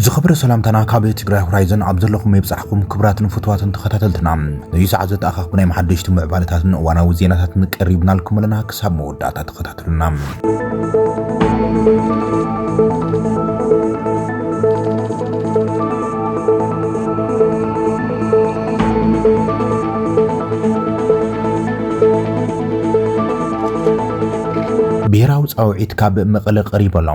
ዝኽብረ ሰላምታና ካብ ትግራይ ሆራይዘን ኣብ ዘለኹም የብጻሕኩም ክብራትን ፍትዋትን ተኸታተልትና ነዩ ሰዓት ዘተኣኻኽቡ ናይ መሓደሽቲ ምዕባለታትን እዋናዊ ዜናታትን ቀሪብናልኩም ኣለና ክሳብ መወዳእታ ተኸታተሉ ብሄራዊ ፃውዒት ካብ መቐለ ቀሪቡ ኣሎ።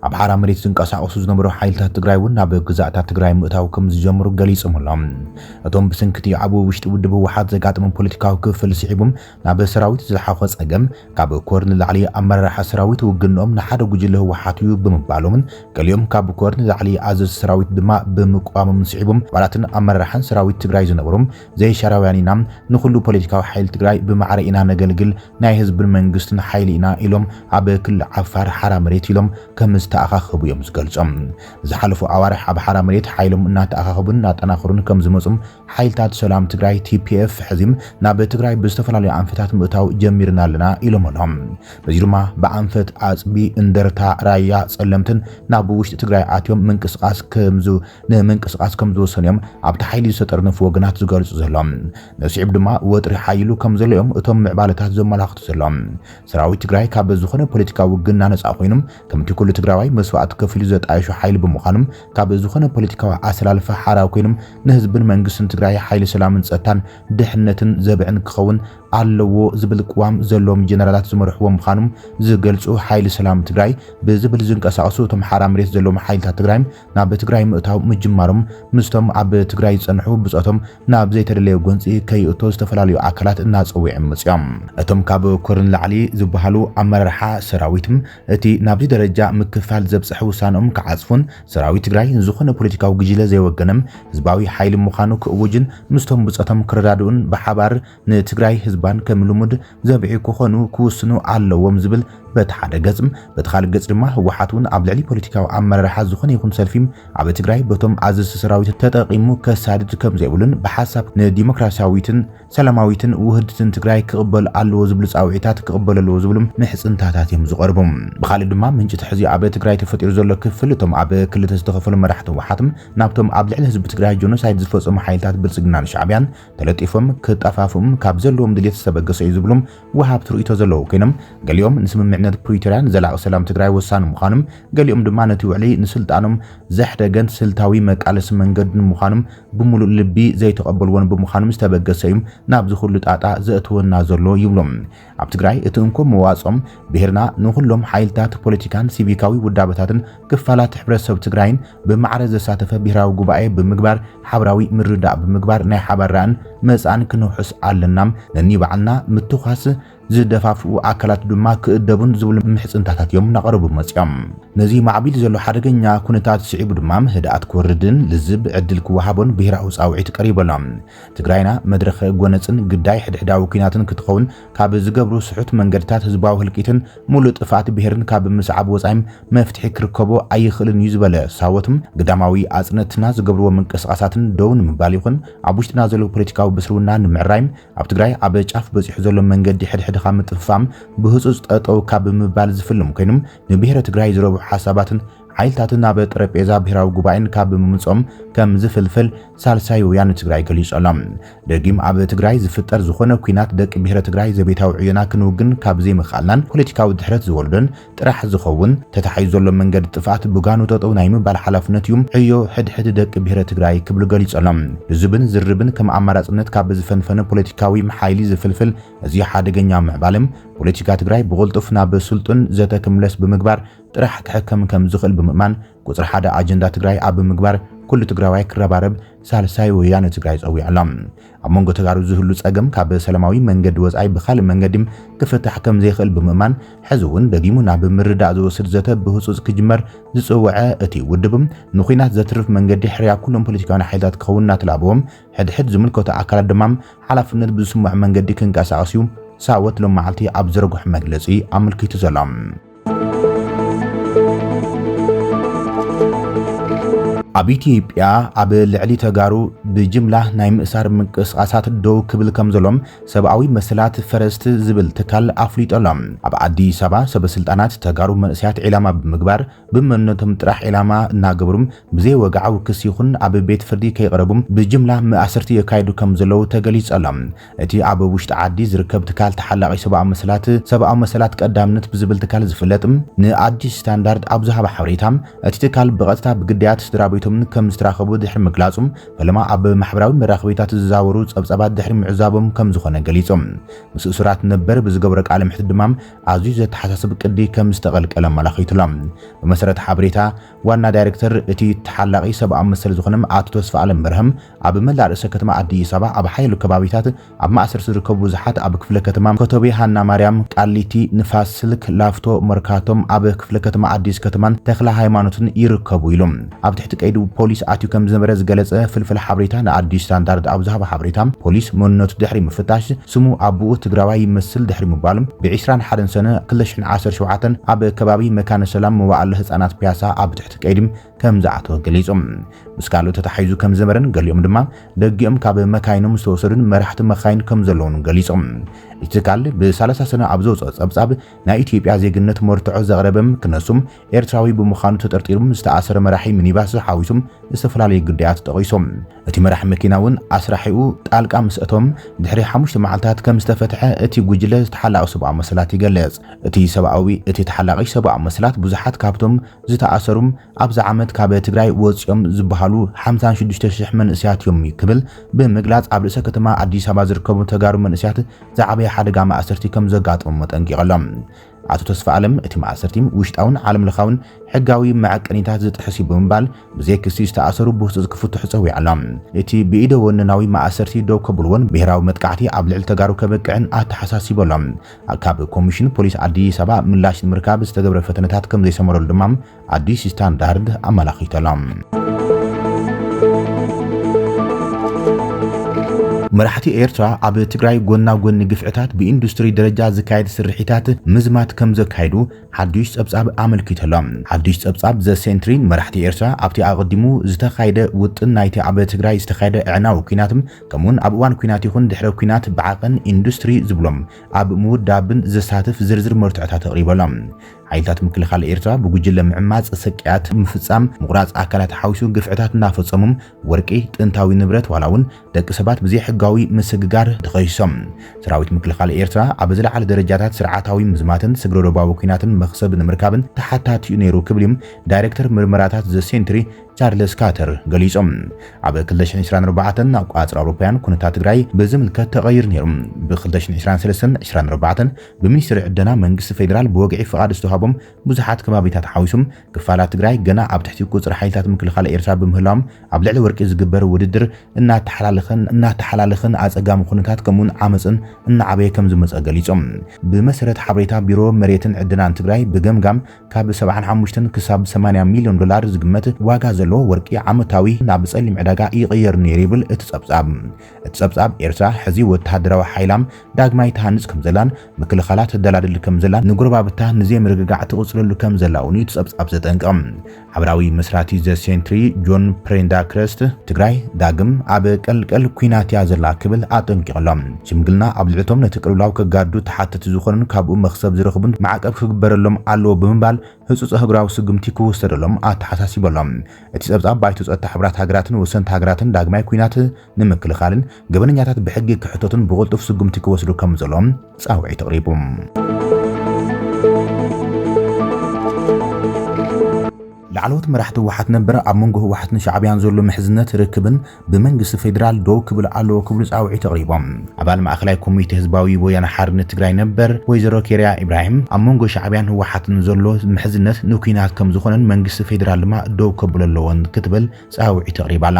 ኣብ ሓራ መሬት ዝንቀሳቐሱ ዝነበሩ ሓይልታት ትግራይ እውን ናብ ግዛእታት ትግራይ ምእታው ከምዝጀምሩ ገሊፆም ኣሎም። እቶም ብስንኪ እቲ ኣብ ውሽጢ ውድብ ህወሓት ዘጋጠመ ፖለቲካዊ ክፍፍል ስዒቡ ናብ ሰራዊት ዝለሓኾ ጸገም ካብ ኮር ንላዕሊ ኣመራርሓ ሰራዊት ውግንኦም ንሓደ ጉጅለ ህወሓት እዩ ብምባሎምን ገሊኦም ካብ ኮር ንላዕሊ ኣዘዝቲ ሰራዊት ድማ ብምቅዋሞምን ስዒቡ ኣባላትን ኣመራርሓን ሰራዊት ትግራይ ዝነበሩ ዘይሻራውያን ኢና ንኹሉ ፖለቲካዊ ሓይሊ ትግራይ ብማዕረ ኢና ነገልግል ናይ ህዝብን መንግስትን ሓይሊ ኢና ኢሎም ኣብ ክልል ዓፋር ሓራ መሬት ኢሎም ከም ዝተኣኻኸቡ እዮም ዝገልጾም። ንዝሓለፉ ኣዋርሕ ኣብ ሓራ መሬት ሓይሎም እናተኣኻኸቡን እናጠናኸሩን ከም ዝመጹ ሓይልታት ሰላም ትግራይ ቲፒኤፍ ሕዚም ናብ ትግራይ ብዝተፈላለዩ ኣንፈታት ምእታው ጀሚርና ኣለና ኢሎም ኣሎም። በዚ ድማ ብኣንፈት ኣፅቢ፣ እንደርታ፣ ራያ፣ ፀለምትን ናብ ውሽጢ ትግራይ ኣትዮም ምንቅስቃስ ከምዝ ንምንቅስቃስ ከምዝወሰኑ እዮም ኣብቲ ሓይሊ ዝተጠርነፉ ወገናት ዝገልፁ ዘሎም። ነስዒብ ድማ ወጥሪ ሓይሉ ከምዘሎ እዮም እቶም ምዕባለታት ዘመላኽቱ ዘሎም። ሰራዊት ትግራይ ካብ ዝኾነ ፖለቲካዊ ውግና ነፃ ኮይኑ ከምቲ ኩሉ ትግራዋይ መስዋእቲ ከፊሉ ዘጣየሾ ሓይሊ ብምዃኖም ካብ ዝኾነ ፖለቲካዊ ኣሰላልፋ ሓራ ኮይኖም ንህዝብን መንግስትን ትግራይ ሓይሊ ሰላምን ፀጥታን ድሕነትን ዘብዕን ክኸውን ኣለዎ ዝብል ቅዋም ዘለዎም ጀነራላት ዝመርሕዎ ምዃኖም ዝገልፁ ሓይሊ ሰላም ትግራይ ብዝብል ዝንቀሳቐሱ እቶም ሓራ መሬት ዘለዎም ሓይልታት ትግራይ ናብ ትግራይ ምእታው ምጅማሮም ምስቶም ኣብ ትግራይ ዝጸንሑ ብጾቶም ናብ ዘይተደለየ ጎንጺ ከይእቶ ዝተፈላለዩ ኣካላት እናጸዊዕም መጺኦም። እቶም ካብ ኮር ንላዕሊ ዝበሃሉ ኣመራርሓ ሰራዊት እቲ ናብዚ ደረጃ ምክፍፋል ዘብጸሐ ውሳነኦም ክዓጽፉን ሰራዊት ትግራይ ንዝኾነ ፖለቲካዊ ግጅለ ዘይወገነ ህዝባዊ ሓይሊ ምዃኑ ክእውጅን ምስቶም ብጾቶም ክረዳድኡን ብሓባር ንትግራይ ህዝባን ከም ልሙድ ዘብዕዩ ክኾኑ ክውስኑ ኣለዎም ዝብል በቲ ሓደ ገጽ፣ በቲ ካልእ ገጽ ድማ ህወሓት እውን ኣብ ልዕሊ ፖለቲካዊ ኣመራርሓ ዝኾነ ይኹን ሰልፊ ኣብ ትግራይ በቶም ኣዘዝቲ ሰራዊት ተጠቒሙ ከሳድድ ከምዘይብሉን ብሓሳብ ንዲሞክራሲያዊትን ሰላማዊትን ውህድትን ትግራይ ክቕበል ኣለዎ ዝብሉ ጻውዒታት ክቕበሉ ኣለዎ ዝብሉ ምሕጽንታታት እዮም ዝቐርቡ። ብኻልእ ድማ ምንጪ እቲ ሕዚ ኣብ ትግራይ ተፈጢሩ ዘሎ ክፍፍል እቶም ኣብ ክልተ ዝተኸፈሉ መራሕቲ ህወሓት ናብቶም ኣብ ልዕሊ ህዝቢ ትግራይ ጆኖሳይድ ዝፈጸሙ ሓይልታት ብልጽግናን ሻዕብያን ተለጢፎም ክጠፋፍኡም ካብ ዘለዎም ድሌት ዝተበገሰ እዩ ዝብሉ ወሃብቲ ርእይቶ ዘለዉ ኮይኖም፣ ገሊኦም ንስምምዕነት ፕሪቶርያ ንዘላቒ ሰላም ትግራይ ወሳኒ ምዃኑም፣ ገሊኦም ድማ ነቲ ውዕሊ ንስልጣኖም ዘሕደገን ስልታዊ መቃለሲ መንገድን ምዃኑም ብምሉእ ልቢ ዘይተቐበልዎን ብምዃኑም ዝተበገሰ እዩ ናብዚ ኩሉ ጣጣ ዘእትወና ዘሎ ይብሉ። ኣብ ትግራይ እቲ እንኮ መዋጽኦም ብሄርና ንኹሎም ሓይልታት ፖለቲካን ሲቪካዊ ውዳበታትን ክፋላት ሕብረተሰብ ትግራይን ብማዕረ ዘሳተፈ ብሄራዊ ጉባኤ ብምግባር ሓብራዊ ምርድዳእ ብምግባር ናይ ሓባር ራእን መጻእን ክነውሕስ ኣለና ነኒባዕልና ምትኳስ ዝደፋፍኡ ኣካላት ድማ ክእደቡን ዝብሉ ምሕጽንታታት እዮም እናቐረቡ መጺኦም። ነዚ ማዕቢል ዘሎ ሓደገኛ ኩነታት ስዒቡ ድማ ህድኣት ክወርድን ልዝብ ዕድል ክወሃቦን ብሄራዊ ጻውዒት ቀሪቡ ኣሎ። ትግራይና መድረኸ ጎነጽን ግዳይ ሕድሕዳዊ ኲናትን ክትኸውን ካብ ዝገብሩ ስሑት መንገድታት ህዝባዊ ህልቂትን ሙሉእ ጥፍኣት ብሄርን ካብ ምስዓብ ወጻኢም መፍትሒ ክርከቦ ኣይኽእልን እዩ ዝበለ ሳወትም ግዳማዊ ኣጽንእትና ዝገብርዎ ምንቅስቓሳትን ደው ንምባል ይኹን ኣብ ውሽጥና ዘሎ ፖለቲካዊ ብስርውና ንምዕራይም ኣብ ትግራይ ኣብ ጫፍ በጺሑ ዘሎ መንገዲ ሕድሕድኻ ምጥፍፋም ብህጹጽ ጠጠው ካብ ምባል ዝፍልም ኮይኑም ንብሄረ ትግራይ ዝረብሑ ሓሳባትን ሓይልታት ናብ ጠረጴዛ ብሄራዊ ጉባኤን ካብ ምምጾም ከም ዝፍልፍል ሳልሳይ ወያነ ትግራይ ገሊጹ ኣሎ። ደጊም ኣብ ትግራይ ዝፍጠር ዝኾነ ኲናት ደቂ ብሄረ ትግራይ ዘቤታዊ ዕዮና ክንውግን ካብ ዘይምኽኣልናን ፖለቲካዊ ድሕረት ዝወልዶን ጥራሕ ዝኸውን ተታሒዙ ዘሎ መንገዲ ጥፍኣት ብጋኑ ጠጠው ናይ ምባል ሓላፍነት እዩ ዕዮ ሕድሕድ ደቂ ብሄረ ትግራይ ክብሉ ገሊጹ ኣሎ። ልዙብን ዝርብን ከም ኣማራጽነት ካብ ዝፈንፈነ ፖለቲካዊ ሓይሊ ዝፍልፍል እዚ ሓደገኛ ምዕባለ ፖለቲካ ትግራይ ብቕልጡፍ ናብ ስልጡን ዘተ ክምለስ ብምግባር ጥራሕ ክሕከም ከም ዝኽእል ብምእማን ቁፅሪ ሓደ ኣጀንዳ ትግራይ ኣብ ምግባር ኩሉ ትግራዋይ ክረባረብ ሳልሳይ ወያነ ትግራይ ፀዊዑ ኣሎ። ኣብ መንጎ ተጋሩ ዝህሉ ፀገም ካብ ሰላማዊ መንገዲ ወፃኢ ብኻልእ መንገዲ ክፍታሕ ከም ዘይኽእል ብምእማን ሕዚ እውን ደጊሙ ናብ ምርዳእ ዝወስድ ዘተ ብህፁፅ ክጅመር ዝፅወዐ እቲ ውድብ ንኹናት ዘትርፍ መንገዲ ሕርያ ኩሎም ፖለቲካውያን ሓይልታት ክኸውን እናተላበዎም ሕድሕድ ዝምልከቶ ኣካላት ድማ ሓላፍነት ብዝስምዖ መንገዲ ክንቀሳቐስ እዩ ሳወት ሎም መዓልቲ ኣብ ዘርግሖ መግለፂ ኣመልኪቱ ዘሎ። ኣብ ኢትዮጵያ ኣብ ልዕሊ ተጋሩ ብጅምላ ናይ ምእሳር ምንቅስቓሳት ደው ክብል ከም ዘሎም ሰብኣዊ መሰላት ፈረስት ዝብል ትካል ኣፍሊጦ ኣሎ። ኣብ ኣዲስ ኣበባ ሰበስልጣናት ተጋሩ መንእሰያት ዒላማ ብምግባር ብመንነቶም ጥራሕ ዒላማ እናገበሩ ብዘይ ወግዓዊ ክሲ ይኹን ኣብ ቤት ፍርዲ ከይቐረቡ ብጅምላ መኣስርቲ የካይዱ ከም ዘለዉ ተገሊጹ ኣሎ። እቲ ኣብ ውሽጢ ዓዲ ዝርከብ ትካል ተሓላቒ ሰብኣዊ መሰላት፣ ሰብኣዊ መሰላት ቀዳምነት ብዝብል ትካል ዝፍለጥ፣ ንኣዲስ ስታንዳርድ ኣብ ዝሃቦ ሓበሬታ፣ እቲ ትካል ብቐጥታ ብግዳያት ስድራቤቶም ከም ዝተራኸቡ ድሕሪ ምግላጹ፣ ፈለማ ኣብ ማሕበራዊ መራኸቢታት ዝዛወሩ ጸብጻባት ድሕሪ ምዕዛቦም ከም ዝኾነ ገሊጹ። ምስ እሱራት ነበር ብዝገበሮ ቃለ መሕትት ድማ ኣዝዩ ዘተሓሳስብ ቅዲ ከም ዝተቐልቀለ ኣመላኺቱ'ሎ። ብመሰረት ሓበሬታ ዋና ዳይረክተር እቲ ተሓላቒ ሰብኣዊ መሰል ዝኾነ ኣቶ ተስፋኣለም በርሀ፣ ኣብ መላእ ርእሰ ከተማ ኣዲስ ኣበባ ኣብ ሓያሎ ከባቢታት ኣብ ማእሰርቲ ዝርከቡ ብዙሓት ኣብ ክፍለ ከተማ ኮተቤ፣ ሃና ማርያም፣ ቃሊቲ፣ ንፋስ ስልክ፣ ላፍቶ፣ መርካቶም፣ ኣብ ክፍለ ከተማ ኣዲስ ከተማን ተክለ ሃይማኖትን ይርከቡ ኢሉ ኣብ ትሕቲ ቀይዲ ፖሊስ ኣትዩ ከም ዝነበረ ዝገለጸ ፍልፍል ሓበሬታ ንኣዲስ ስታንዳርድ ኣብ ዝሃቦ ሓበሬታ ፖሊስ መንነቱ ድሕሪ ምፍታሽ ስሙ ኣቡኡ ትግራዋይ ይመስል ድሕሪ ምባሉ ብ ዕስራን ሓደን ሰነ ክልተ ሽሕን ዓሰርተ ሸውዓተ ኣብ ከባቢ መካነ ሰላም መዋእለ ህጻናት ፒያሳ ኣብ ትሕቲ ቀይዲ ከም ዝኣተወ ገሊጹ። ምስ ካልኦት ተታሒዙ ከም ዝነበረን ገሊኦም ድማ ደጊኦም ካብ መካይኖም ዝተወሰዱን መራሕቲ መኻይን ከም ዘለዉን ገሊጾም። እቲ ትካል ብ ሰላሳ ሰነ ኣብ ዘውጽኦ ጸብጻብ ናይ ኢትዮጵያ ዜግነት መርትዖ ዘቕረበ ክነሱ ኤርትራዊ ብምዃኑ ተጠርጢሩ ዝተኣሰረ መራሒ ሚኒባስ ሓዊሱ ዝተፈላለዩ ግዳያት ጠቒሱ። እቲ መራሒ መኪና እውን ኣስራሒኡ ጣልቃ ምስ ኣተወ ድሕሪ ሓሙሽተ መዓልታት ከም ዝተፈትሐ እቲ ጉጅለ ተሓላቒ ሰብኣዊ መሰላት ይገልጽ። እቲ ሰብኣዊ እቲ ተሓላቒ ሰብኣዊ መሰላት ብዙሓት ካብቶም ዝተኣሰሩ ኣብዚ ዓመት ካብ ትግራይ ወፂኦም ዝበሃሉ ሓምሳን ሽዱሽተ ሽሕ መንእሰያት እዮም ክብል ብምግላፅ ኣብ ርእሰ ከተማ ኣዲስ ኣበባ ዝርከቡ ተጋሩ መንእሰያት ዝዓበየ ሓደጋ ማእሰርቲ ከም ዘጋጠሞም ኣጠንቂቑ ኣሎ። ኣቶ ተስፋኣለም እቲ ማእሰርቲ ውሽጣውን ዓለም ለኻውን ሕጋዊ መዐቀኒታት ዝጥሕስ እዩ ብምባል ብዘይ ክሲ ዝተኣሰሩ ብህፁፅ ክፍትሑ ፀዊዑ ኣሎ። እቲ ብኢደ ወነናዊ ማእሰርቲ ደው ከብልዎን ብሄራዊ መጥቃዕቲ ኣብ ልዕሊ ተጋሩ ከብቅዕን ኣተሓሳሲቡ ኣሎ። ካብ ኮሚሽን ፖሊስ ኣዲስ ኣበባ ምላሽ ንምርካብ ዝተገብረ ፈተነታት ከምዘይሰመረሉ ድማ ኣዲስ ስታንዳርድ ኣመላኺቱ ኣሎ። መራሕቲ ኤርትራ ኣብ ትግራይ ጎና ጎኒ ግፍዕታት ብኢንዱስትሪ ደረጃ ዝካየድ ስርሒታት ምዝማት ከም ዘካይዱ ሓድሽ ጸብጻብ ኣመልኪተሎም። ሓድሽ ጸብጻብ ዘ ሴንትሪ መራሕቲ ኤርትራ ኣብቲ ኣቐዲሙ ዝተኻየደ ውጥን ናይቲ ኣብ ትግራይ ዝተኻየደ ዕናዊ ኩናት ከምኡውን ኣብ እዋን ኲናት ይኹን ድሕረ ኲናት ብዓቐን ኢንዱስትሪ ዝብሎም ኣብ ምውዳብን ዘሳትፍ ዝርዝር መርትዖታት ኣቕሪቡ ኣሎ። ሓይልታት ምክልኻል ኤርትራ ብጉጅለ ምዕማጽ፣ ስቅያት ምፍጻም፣ ምቑራጽ ኣካላት ሓዊሱ ግፍዕታት እናፈጸሙ፣ ወርቂ፣ ጥንታዊ ንብረት ዋላ'ውን ደቂ ሰባት ብዘይሕጋዊ ምስግጋር ተኸሲሶም። ሰራዊት ምክልኻል ኤርትራ ኣብ ዝለዓለ ደረጃታት ስርዓታዊ ምዝማትን ስግረዶባዊ ኲናትን መኽሰብ ንምርካብን ተሓታቲ'ዩ ነይሩ ክብል'ዩ ዳይረክተር ምርመራታት ዘ ሴንትሪ ቻርለስ ካተር ገሊጾም። ኣብ ክልተ ሽሕን ዕስራን ኣርባዕተን ኣቆጻጽራ ኣውሮፓውያን ኩነታት ትግራይ ብዝምልከት ተቐይሩ ነይሩ። ብ ክልተ ሽሕን ዕስራን ሰለስተን ዕስራን ኣርባዕተን ብሚኒስትሪ ዕደና መንግስቲ ፌደራል ብወግዒ ፍቓድ ዝተውሃቦም ብዙሓት ከባቢታት ሓዊሱ ክፋላት ትግራይ ገና ኣብ ትሕቲ ቁጽሪ ሓይልታት ምክልኻል ኤርትራ ብምህላዎም ኣብ ልዕሊ ወርቂ ዝግበር ውድድር እናተሓላለኸን እናተሓላለኸን ኣጸጋሚ ኩነታት ከምኡ'ውን ዓመጽን እናዓበየ ከምዝመጸ ገሊጾም። ብመሰረት ሓበሬታ ቢሮ መሬትን ዕደናን ትግራይ ብገምጋም ካብ ሰብዓን ሓሙሽተን ክሳብ ሰማንያ ሚልዮን ዶላር ዝግመት ዋጋ ዘለዎ ወርቂ ዓመታዊ ናብ ጸሊም ዕዳጋ ይቕየር ነይሩ ይብል እቲ ጸብጻብ። እቲ ጸብጻብ፣ ኤርትራ ሕዚ ወተሃደራዊ ሓይላ ዳግማይ ትሃንጽ ከምዘላን ምክልኻላ ተደላድል ከምዘላን ንጎረባብታ ንዘይምርግጋዕ ትቕጽለሉ ከምዘላ'ውን እዩ እቲ ጸብጻብ ዘጠንቅቕ። ሓበራዊ መስራቲ ዘ ሴንትሪ ጆን ፕሬንዳክረስት፣ ትግራይ ዳግም ኣብ ቀልቀል ኲናት እያ ዘላ ክብል ኣጠንቂቑ'ሎ። ሽምግልና ኣብ ልዕሊ እቶም ነቲ ቅልውላው ከጋድዱ ተሓተቲ ዝኾኑን ካብኡ መኽሰብ ዝረኽቡን ማዕቀብ ክግበረሎም ኣለዎ ብምባል ህጹጽ ኣህጉራዊ ስጉምቲ ክውሰደሎም ኣተሓሳሲቡ ኣሎ። እቲ ጸብጻብ ባይቶ ጸጥታ ሕቡራት ሃገራትን ወሰንቲ ሃገራትን ዳግማይ ኲናት ንምክልኻልን ገበነኛታት ብሕጊ ክሕተቱን ብቕልጡፍ ስጉምቲ ክወስዱ ከምዘሎ ጻውዒት ኣቕሪቡ። ላዕለዎት መራሕቲ ህወሓት ነበር ኣብ መንጎ ህወሓትን ሻዕብያን ዘሎ ምሕዝነት ርክብን ብመንግስቲ ፌዴራል ደው ክብል ኣለዎ ክብሉ ፃውዒት ኣቕሪቦም። ኣባል ማእኸላይ ኮሚቴ ህዝባዊ ወያነ ሓርነት ትግራይ ነበር ወይዘሮ ኬርያ ኢብራሂም ኣብ መንጎ ሻዕብያን ህወሓትን ዘሎ ምሕዝነት ንኲናት ከምዝኾነን መንግስቲ ፌዴራል ድማ ደው ከብሎ ኣለዎን ክትብል ጻውዒት ኣቕሪባ'ላ።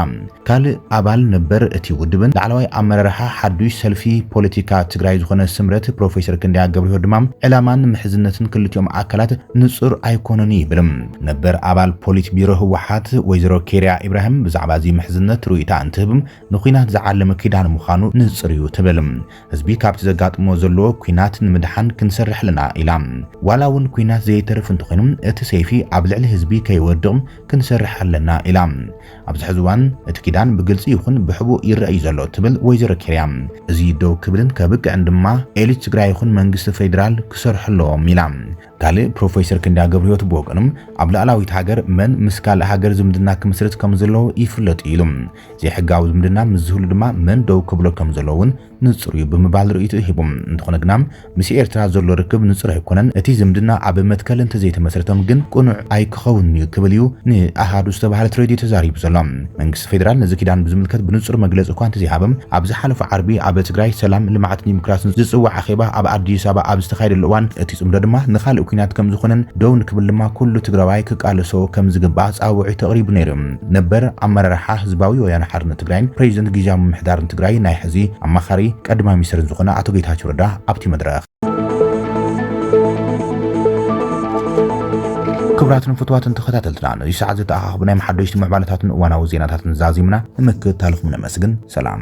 ካልእ ኣባል ነበር እቲ ውድብን ላዕለዋይ ኣመራርሓ ሓዱሽ ሰልፊ ፖለቲካ ትግራይ ዝኾነ ስምረት ፕሮፌሰር ክንደያ ገብርሂወት ድማ ዕላማን ምሕዝነትን ክልቲኦም ኣካላት ንጹር ኣይኮነን'ዩ ይብል። ነበር ኣባል ፖሊት ቢሮ ህወሓት ወይዘሮ ኬርያ ኢብራሂም ብዛዕባ'ዚ ምሕዝነት ርእይታ እንትህብ ንኲናት ዝዓለመ ኪዳን ምዃኑ ንጹር'ዩ ትብል። ህዝቢ ካብቲ ዘጋጥሞ ዘሎ ኩናት ንምድሓን ክንሰርሕ ኣለና ኢላ። ዋላ እውን ኩናት ዘየተርፍ እንተኾይኑ እቲ ሰይፊ ኣብ ልዕሊ ህዝቢ ከይወድቕ ክንሰርሕ ኣለና ኢላ። ኣብዚ ሕዚ እዋን እቲ ኪዳን ብግልፂ ይኹን ብሕቡእ ይረኣ እዩ ዘሎ ትብል ወይዘሮ ኬርያ። እዚ ደው ክብልን ከብቅዕን ድማ ኤሊት ትግራይ ይኹን መንግስቲ ፌዴራል ክሰርሑ ኣለዎም ኢላ። ካልእ ፕሮፌሰር ክንደያ ገብርህይወት ብወገኑ ኣብ ልኣላዊት ሃገር መን ምስ ካልእ ሃገር ዝምድና ክምስርት ከም ዘለዎ ይፍለጥ እዩ ኢሉ። ዘይሕጋዊ ዝምድና ምስ ዝህሉ ድማ መን ደው ክብሎ ከም ዘለዎ እውን ንጹር እዩ ብምባል ርእይትኡ ሂቡ። እንተኾነ ግና ምስ ኤርትራ ዘሎ ርክብ ንጹር ኣይኮነን፣ እቲ ዝምድና ኣብ መትከል እንተዘይተመስረተም ግን ቅኑዕ ኣይክ ክኸውን'ዩ ክብል'ዩ ንኣሃዱ ዝተባህለት ሬድዮ ተዛሪቡ ዘሎ። መንግስቲ ፌደራል ነዚ ኪዳን ብዝምልከት ብንጹር መግለጺ እኳ እንተዘይሃበ፣ ኣብ ዝሓለፈ ዓርቢ ኣብ ትግራይ ሰላም፣ ልምዓትን ዲሞክራስን ዝጽዋዕ ኣኼባ ኣብ ኣዲስ ኣበባ ኣብ ዝተኻየደሉ እዋን እቲ ጽምዶ ድማ ንኻልእ ኲናት ከምዝኾነን ደው ንክብል ድማ ኩሉ ትግራዋይ ክቃለሶ ከምዝግባእ ጻውዒት ኣቕሪቡ ነይሩ ነበር። ኣመራርሓ ህዝባዊ ወያነ ሓርነት ትግራይን ፕረዚደንት ግዝያዊ ምምሕዳርን ትግራይ ናይ ሕዚ ኣማኻሪ ቀዳማይ ሚኒስተርን ዝኾነ ኣቶ ጌታቸው ረዳ ኣብቲ መድረኽ ክብራትን ፍትዋትን ተኸታተልትና ነዚ ሰዓት ዘተኣኻኽብናዮም ሓደሽቲ ምዕባለታትን እዋናዊ ዜናታትን ዛዚምና ንምክትታልኹም ነመስግን። ሰላም